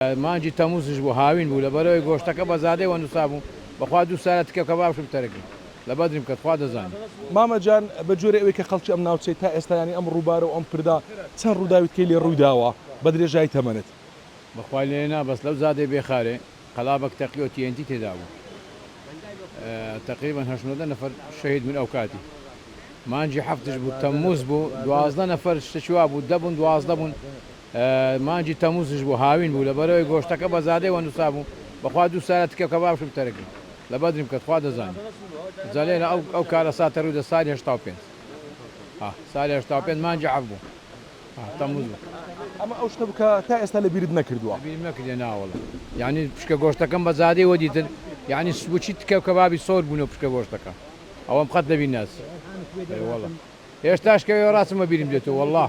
مانگی تەموزش بوو هاوین بوو لەبەرئەوەی گۆشتەکە بە زادەی وە نوسابوو بەخوا دوو سالە تکە کە باشو بتەرک لە بەدرم کەت خوا دەزانی. مامە جان بە جۆرێ ئەوێ کە خەڵکی ئەم ناوچەی تا ئێستا یانی ئەم ڕووبارە و ئەم پردە چەند ڕووداوی تکەی لێ ڕوویداوە بە درێژایی تەمەنت؟ بەخوای لێ نا بەس لەو زادەی بێ خارێ قەلابەک تەقی و TNT تێدا بوو تەقریبەن هەشت نۆدە نەفەر شەهید بوون ئەوکاتی مانگی حەفتش بوو تەموز بوو دوازدە نەفەر شتێکی وابوو دە بوون دوازدە بوون مانگی تەموزش بوو هاوین بوو لەبەرئەوەی گۆشتەکە بە زادەی وە نوسابوو بەخوا دوو سالە تکە کەباب شم تەرک بوو لە بەدرم کەت خوا دەزانی جەلێنە ئەو ئەو کارە ساتە روو دە سالی هەشتا و پێنج ها سالی هەشتا و پێنج مانگی حەفت بوو ها تەموز بوو. ئەمە ئەو شتە بوو کە تا ئێستا لە بیرت نەکردووە؟ لە بیرم نەکردیە نا وەڵا یانی پشکە گۆشتەکەم بە زادەی وە دیتن یانی بۆچی تکە کەبابی سۆر بوونە پشکە گۆشتەکە ئەوەم قەت لە بیر ناچی ئەرێ وەڵا. هێشتاش کە ئەوێ ڕاچم بەبیرم دێتۆ وەڵا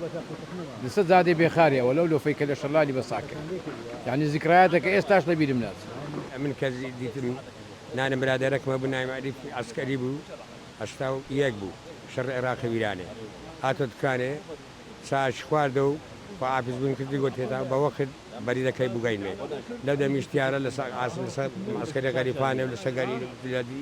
لەسەر جادەی بێخاری ئەوە لەو لۆفەی کە لە شەلالی بە ساک کرد یانی زیکرایاتەکە ئێستاش لە بیرم ناچێ. ئەمن کەس دیتم نانە برادەرەکمە بو ناوی عەریف عەسکەری بو هەشتا و یەک بو شەڕ عێراقی ویرانێ هاتۆ دکانێ چاش خواردەو خواحافیز بوین کردی گۆتی هێتا بە وەخت بەریرە کەی بوگەینمێ لەو دەمیش تیارە لە ساک عاسم لە سەر عەسکەری غەریفانێ و لە سەر گەری لە دی